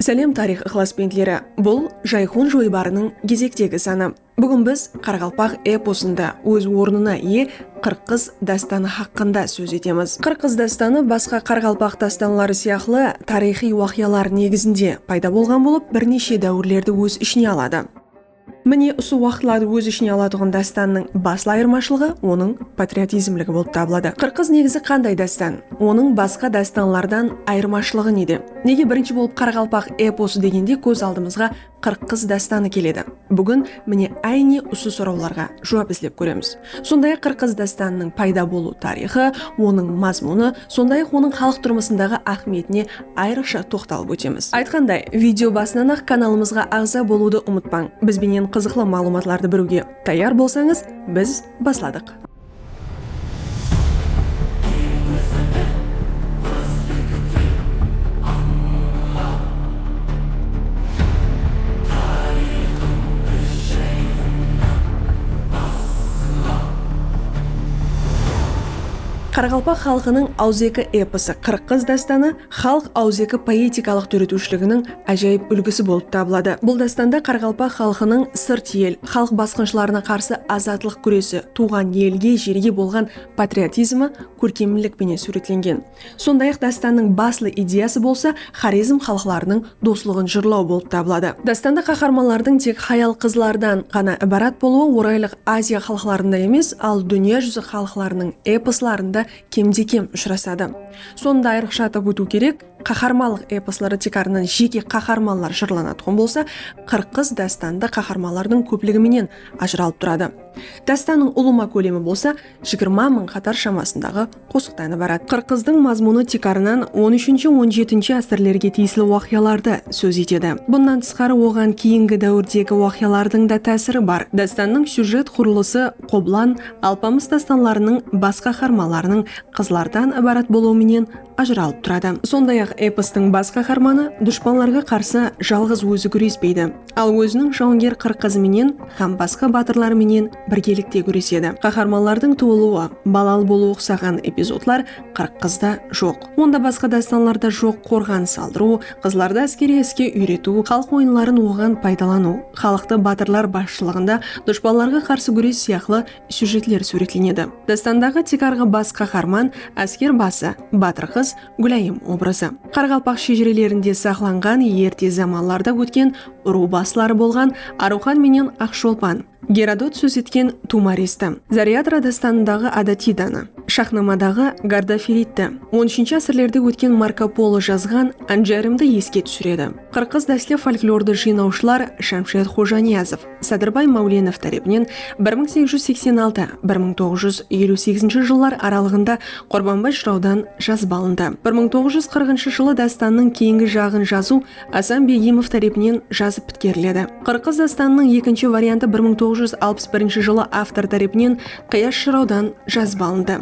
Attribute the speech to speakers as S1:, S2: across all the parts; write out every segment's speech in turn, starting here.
S1: Sálem tariyx ıqlasbentleri! Bul Jayxon joybarınıń gezektegi sanı. Búgin biz qaraqalpaq eposında óz ornına iye Qırqız dástanı haqqında sóz etemiz. Qırqız dástanı basqa qaraqalpaq dástanları sıyaqlı tariyxıy waqıyalar negizinde payda bolǵan bolıp, bir neshe dáwirlerdi óz ishine aladı. Mine usı waqıtlardı óz ishine alatuǵın dástannıń baslı ayırmashılıǵı onıń patriotizmligi bolıp tabıladı. Qırqız negizi qanday dástan? Onıń basqa dástanlardan ayırmashılıǵı nede? Nege birinshi bolıp qaraqalpaq eposı degende kóz aldımızǵa Qırqız dástanı keledi? Búgin mine áyne usı sorawlarǵa juwap izlep kóremiz. Sonday-aq, Qırqız dástanınıń payda bolıw tariyxı, onıń mazmunı, sonday-aq, onıń xalıq turmısındaǵı áhmiyetine ayrıqsha toqtalıp ótemiz. Aytqanday, video basınan-aq kanalımızǵa aǵza bolıwdı umıtpań. Biz benen qızıqlı maǵlıwmatlardı biriwge tayar bolsańız, biz basladıq. Qaraqalpaq xalqınıń awızeki eposı Qırıq qız dástanı xalıq awızeki poetikalıq dóretiwshiliginiń ájayıp úlgisi bolıp tabıladı. Bul dástanda qaraqalpaq xalqınıń sırt el, xalıq basqınshılarına qarsı azatlıq gúresi, tuwǵan elge, jerge bolǵan patriotizmi kórkemlik penen súwretlengen. Sonday-aq, dástannıń baslı ideyası bolsa Xorezm xalıqlarınıń doslıǵın jırlaw bolıp tabıladı. Dástanda qaharmanlardıń tek hayal-qızlardan ǵana ibarat bolıwı Oraylıq Aziya xalıqlarında emes, al dúnya júzi xalıqlarınıń eposlarında kemde-kem ushırasadı. Sonı da ayrıqsha atap ótiw kerek, qaharmanlıq eposları tiykarınan jeke qaharmanlar jırlanatuǵın bolsa, Qırqız dástanında qaharmanlardıń kópligi menen ajıralıp turadı. Dástannıń ulıwma kólemi bolsa jigirma mıń qatar shamasındaǵı qosıqtan ibarat. Qırqızdıń mazmunı tiykarınan on úshinshi-on jetinshi ásirlerge tiyisli waqıyalardı sóz etedi. Bunnan tısqarı oǵan keyingi dáwirdegi waqıyalardıń da tásiri bar. Dástannıń syujet qurılısı Qoblan, Alpamıs dástanlarınıń bas qaharmanlarınıń qızlardan ibarat bolıwı menen ajıralıp turadı. Sonday-aq, epostıń bas qaharmanı dushpanlarǵa qarsı jalǵız ózi gúrespeydi. Al óziniń jawanger qırq qızı menen hám basqa batırları menen birgelikte gúresedi. Qaharmanlardıń tuwılıwı, balalı bolıwı uqsaǵan epizodlar Qırq qızda joq. Onda basqa dástanlarda joq qorǵan saldırıw, qızlardı áskeriy iske úyretiw, xalıq oyınların oǵan paydalanıw, xalıqtı batırlar basshılıǵında dushpanlarǵa qarsı gúres sıyaqlı syujetler súwretlenedi. Dástandaǵı tiykarǵı bas qaharman, ásker bası, batır qız, Gúlayım obrazı. Qaraqalpaq shejirelerinde saqlanǵan erte zamanlarda ótken urıw basları bolǵan Arıwxan menen Aqsholpan, Gerodot sóz etken Tumaresti, Zaryadra dástanındaǵı Adatidani, Shaxnamadaǵı Gardaferidti, on úshinshi ásirlerde ótken Marko Polo jazǵan Anjayrimdi eske túsiredi. Qırqız dástli folklordı jıynawshılar Shamshet Xojaniyazov, Sadırbay Máwlenov tárepinen bir mıń segiz júz seksen altı, bir mıń toǵız júz eliw segizinshi jıllar aralıǵında Qurbanbay jırawdan jazıp alındı. Bir mıń toǵız júz qırqınshı jılı dástannıń keyingi jaǵın jazıw Asan Begimov tárepinen jazıp pitkeriledi. Qırqız dástannıń ekinshi variantı bir mıń toǵız júz alpıs birinshi jılı avtor tárepinen Qıyash jırawdan jazıp alındı.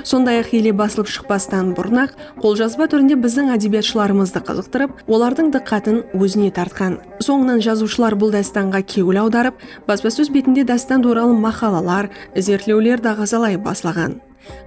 S1: Sonday-aq ele basılıp shıqpastan burın-aq qoljazba túrinde biziń ádebiyatshılarımızdı qızıqtırıp, olardıń dıqqatın ózine tartqan. Sońınan jazıwshılar bul dástanǵa kewil awdarıp, baspasóz betinde dástan tuwralı maqalalar, izertlewler daǵazalay baslaǵan.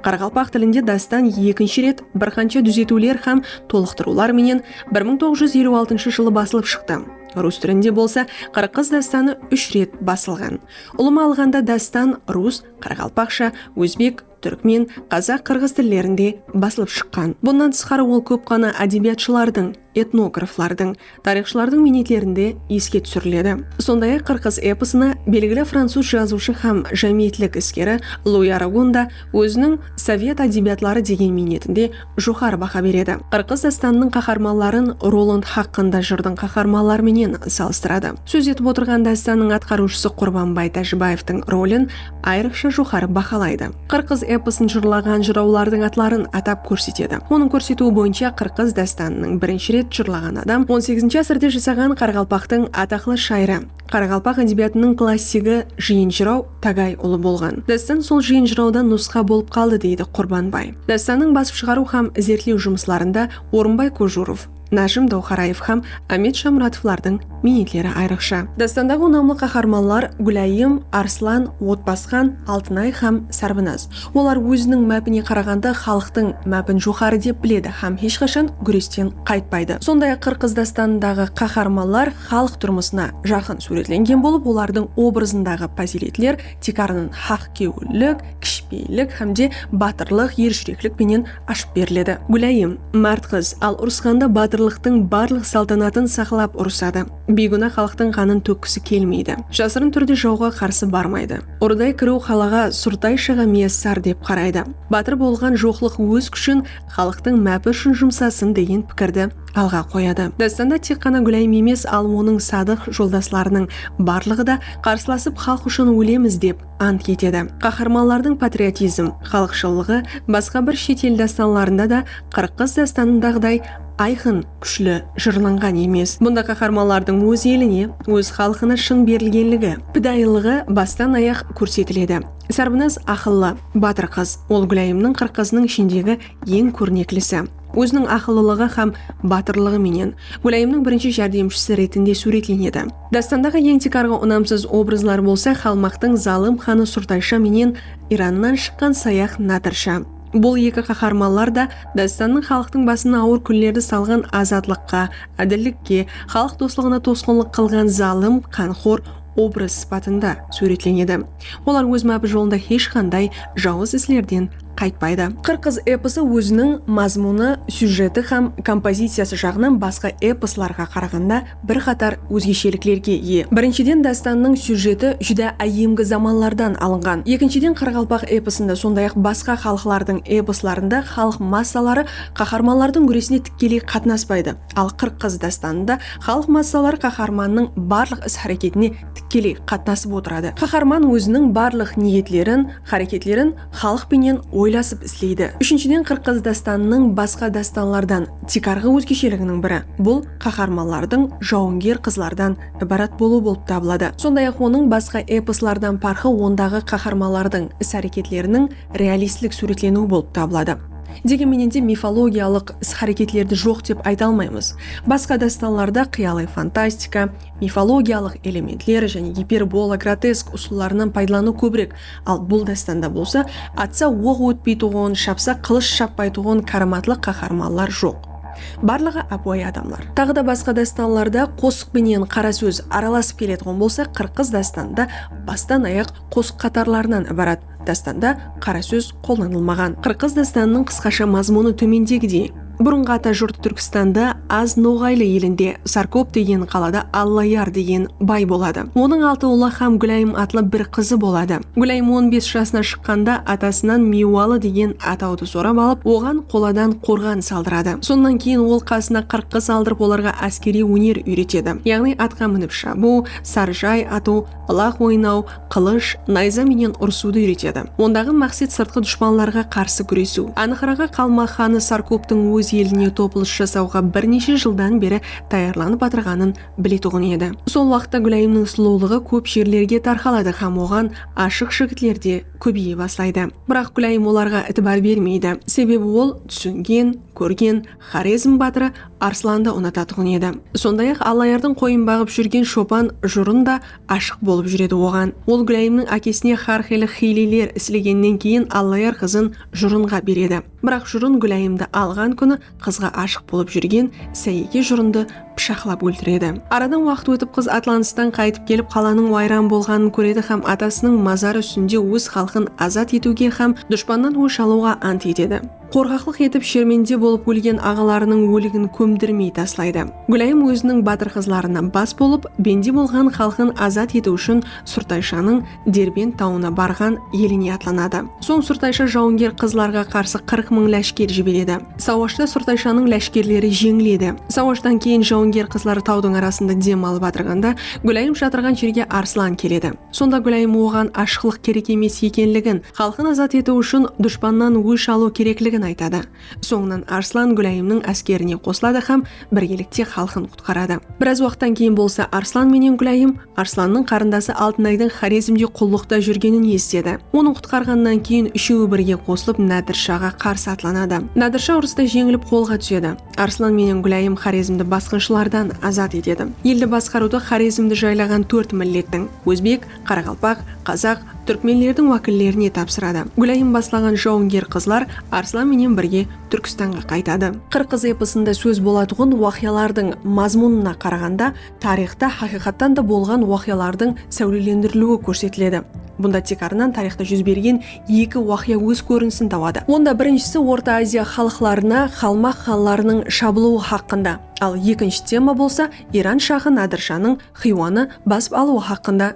S1: Qaraqalpaq tilinde dástan ekinshi ret bir qansha dúzetiwler hám tolıqtırıwlar menen bir mıń toǵız júz eliw altıńshı jılı basılıp shıqtı. Rus tilinde bolsa Qırıq qız dástanı úsh ret basılǵan. Ulıwma alǵanda dástan rus, qaraqalpaqsha, ózbek, túrkmen, qazaq, qırǵız tillerinde basılıp shıqqan. Bunnan tısqarı ol kóp ǵana ádebiyatshılardıń, etnograflardıń, tariyxshılardıń miynetlerinde eske túsiriledi. Sonday-aq, Qırqız eposına belgili francuz jazıwshı hám jámiyetlik iskeri Lui Aragon da óziniń Sovet ádebiyatları degen miynetinde joqarı baha beredi. Qırqız dástanınıń qaharmanların Roland haqqında jırdıń qaharmanları menen salıstıradı. Sóz etip otırǵan dástannıń atqarıwshısı Qurbanbay Tájibaevtıń rolin ayrıqsha joqarı bahalaydı. Qırqız eposın jırlaǵan jırawlardıń atların atap kórsetedi. Onıń kórsetiwi boyınsha Qırqız dástanınıń birinshi ret jırlaǵan adam on segizinshi ásirde jasaǵan qaraqalpaqtıń ataqlı shayırı, Qaraqalpaq ádebiyatınıń klassigi Jıyın jıraw tágay ulı bolǵan. Dástan sol Jıyın jırawdan nusqa bolıp qaldı, deydi Qurbanbay. Dástannıń basıp shıǵarıw hám izertlew jumıslarında Orınbay Kojurov, Nájim Dawxaraev hám Ámet Shamuratovlardıń miynetleri ayrıqsha. Dástandaǵı unamlı qaharmanlar Gúlayım, Arslan, Otbasqan, Altınay hám Sárbinaz. Olar óziniń mápine qaraǵanda xalıqtıń mápin joqarı dep biledi hám hesh qashan gúresten qaytpaydı. Sonday-aq Qırqız dástanındaǵı qaharmanlar. xalıq turmısına jaqın súwretlengen bolıp, olardıń obrazındaǵı pazıyletler tiykarınan haqkewillik, kishpeyillik hám de batırlıq, erjúreklik penen ashıp beriledi. Gúlayım, márt qız, al urısqanda batırlıqtıń barlıq saltanatın saqlap urısadı. Biygúna xalıqtıń qanın tókkisi kelmeydi. Jasırın túrde jawǵa qarsı barmaydı. Urıday kiriw qalaǵa surtayshıǵa miyassar dep qaraydı. Batır bolǵan joqlıq óz kúshin xalıqtıń mápi ushın jumsasın degen pikirdi. alǵa qoyadı. Dástanda tek ǵana Gúlayim emes, al onıń sadıq joldaslarınıń barlıǵı da qarsılasıp xalıq ushın ólemiz dep ant etedi. Qaharmanlardıń patriotizm, xalıqshıllıǵı basqa bir shet el dástanlarında da Qırıqqız dástanındaǵıday ayqın, kúshli jırlanǵan emes. Bunda qaharmanlardıń óz eline, óz xalqına shın berilgenligi, pidayılıǵı bastan ayaq kórsetiledi. Sarbınaz aqıllı, batır qız. Ol Gúlayimniń Qırıqqızınıń ishindegi Eń kórneklisi, óziniń aqıllılıǵı hám batırlıǵı menen Gólayımnıń birinshi járdemshisi retinde súwretlenedi. Dástandaǵı eń tiykarǵı unamsız obrazlar bolsa Xalmaqtıń zalım xanı Surtaysha menen Irannan shıqqan sayaq Nadirsha. Bul eki qaharmanlar da dástannıń xalıqtıń basına awır kúnlerdi salǵan azatlıqqa, ádillikke, xalıq doslıǵına tosqınlıq qılǵan zalım, qanxor obraz sıpatında súwretlenedi. Olar óz mápi jolında hesh qanday jawız islerden qaytpaydı. Qırqız eposı óziniń mazmunı, syujeti hám kompoziciyası jaǵınan basqa eposlarǵa qaraǵanda bir qatar ózgesheliklerge iye. Birinshiden dástannıń syujeti júdá áyyemgi zamanlardan alınǵan. Ekinshiden qaraqalpaq eposında sonday-aq basqa xalıqlardıń eposlarında xalıq massaları qaharmanlardıń gúresine tikkeley qatnaspaydı. Al Qırqız dástanında xalıq massaları qaharmannıń barlıq is-háreketine tikkeley qatnasıp otıradı. Qaharman óziniń barlıq niyetlerin, háreketlerin, Xalıq penen oylasıp isleydi. Úshinshiden Qırqız dástanınıń basqa dástanlardan tiykarǵı ózgesheliginiń biri, bul qaharmanlardıń jawınger qızlardan ibarat bolıwı bolıp tabıladı. Sonday-aq onıń basqa eposlardan parqı ondaǵı qaharmanlardıń is-háreketleriniń realistlik súwretleniwi bolıp tabıladı. Degen menen de mifologiyalıq is-háreketlerdi joq dep ayta almaymız. Basqa dástanlarda qıyalıy fantastika, mifologiyalıq elementler jáne giperbola, grotesk usıllarınan paydalanıw kóbirek Al bul dástanda bolsa atsa oq ótpeytuǵın, shapsa qılısh shapbaytuǵın káramatlı qaharmanlar joq. Barlıǵı ápiwayı adamlar. Taǵı da basqa dástanlarda qosıq penen qara sóz aralasıp keletuǵın bolsa Qırqız dástanı da bastan ayaq qosıq qatarlarınan ibarat. Dástanda qara sóz qollanılmaǵan. Qırqız dástanınıń qısqasha mazmunı tómendegidey. Burınǵı ata jurtı Túrkistanda Az Noǵaylı elinde Sarkop degen qalada Allayar degen bay boladı. Onıń altı ulı hám Gúlayım atlı bir qızı boladı. Gúlayım on bes jasına shıqqanda atasınan Miywalı degen atawdı sorap alıp, oǵan qoladan qorǵan saldıradı. Sonnan keyin ol qasına qırqqız aldırıp olarǵa áskeriy óner úyretedi. Yaǵnıy atqa minip shabıw, sarjay atıw, ılaq oynaw, qılısh, nayza menen urısıwdı úyretedi. Ondaǵı maqset sırtqı dushpanlarǵa qarsı gúresiw. Anıqraǵı Qalmaq xanı Sarkoptıń óz eline topılıs jasawǵa bir neshe jıldan beri tayarlanıp atırǵanın biletuǵın edi. Sol waqıtta Gúláyimniń sulıwlıǵı kóp jerlerge tarqaladı hám oǵan ashıq jigitler de kóbeye baslaydı. Biraq Gúláyim olarǵa itibar bermeydi. Sebebi ol túsingen, kórgen Xorezm batırı Arslandı unatatuǵın edi. Sonday-aq Allayardıń qoyın baǵıp júrgen shopan Jurın da ashıq bolıp júredi oǵan ol Gúlayımnıń ákesine xár xıylı xiyleler islegennen keyin Allayar qızın Jurınǵa beredi biraq Jurın Gúlayımdı alǵan kúni qızǵa ashıq bolıp júrgen Sáyeke Jurındı pıshaqlap óltiredi aradan waqıt ótip qız atlanıstan qaytıp kelip qalanıń wayran bolǵanın kóredi xám atasınıń mazarı ústinde óz xalqın azat etiwge xám dushpannan ósh alıwǵa ant etedi. Qorqaqlıq etip shermende bolıp ólgen aǵalarınıń óligin kómdirmey taslaydı. Gúlayım óziniń batır qızlarına bas bolıp, bende bolǵan xalqın azat etiw ushın Surtayshanıń Derbent tawına barǵan eline atlanadı. Soń Surtaysha jawınger qızlarǵa qarsı qırq mıń láshker jiberedi. Sawashta Surtayshanıń láshkerleri jeńiledi. Sawashtan keyin jawınger qızlar tawdıń arasında dem alıp atırǵanda Gúlayım shatırǵan jerge Arslan keledi. Sonda Gúlayım oǵan ashıqlıq kerek emes ekenligin, xalqın azat etiw ushın dushpannan ósh alıw kerekligin aytadı. Sońınan Arslan Gúlayımnıń áskerine qosıladı hám birgelikte xalqın qutqaradı. Biraz waqıttan keyin bolsa Arslan menen Gúlayım Arslannıń qarındası Altınaydıń Xorezmde qullıqta júrgenin esitedi. Onıń qutqarǵanınan keyin úshewi birge qosılıp Nádirshaǵa qarsı atlanadı. Nádirsha urısta jeńilip qolǵa túsedi. Arslan menen Gúlayım Xorezmdi basqınshılardan azat etedi. Eldi basqarıwdı Xorezmdi jaylaǵan tórt millettiń, ózbek, qaraqalpaq, qazaq, túrkmenlerdiń wákillerine tapsıradı. Gúlayım baslaǵan jawınger qızlar Arslan menen birge Túrkistanǵa qaytadı. Qırqız eposında sóz bolatuǵın waqıyalardıń mazmunına qaraǵanda, Tariyxta haqıyqattan da bolǵan waqıyalardıń sáwlelendiriliwi kórsetiledi. Bunda tiykarınan tariyxta júz bergen eki waqıya óz kórinisin tabadı. Onda birinshisi Orta Aziya xalıqlarına qalmaq xanlarınıń shabılıwı haqqında, al ekinshi tema bolsa Iran shahı Nadir shanıń Xiywanı basıp alıwı haqqında.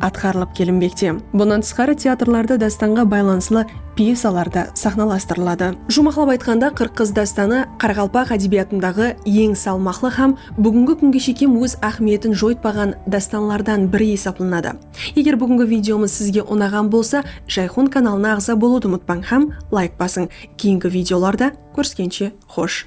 S1: atqarılıp kelinbekte. Bunnan tısqarı teatrlarda dástanǵa baylanıslı pyesalar da saxnalastırıladı. Juwmaqlap aytqanda, Qırq qız dástanı qaraqalpaq ádebiyatındaǵı eń salmaqlı hám búgingi kúnge shekem óz áhmiyetin joytpaǵan dástanlardan biri esaplanadı. Eger búgingi videomız sizge unaǵan bolsa, Jayxun kanalına aǵza bolıwdı umıtpań hám layk basıń. Keyingi videolarda kóriskenshe xosh!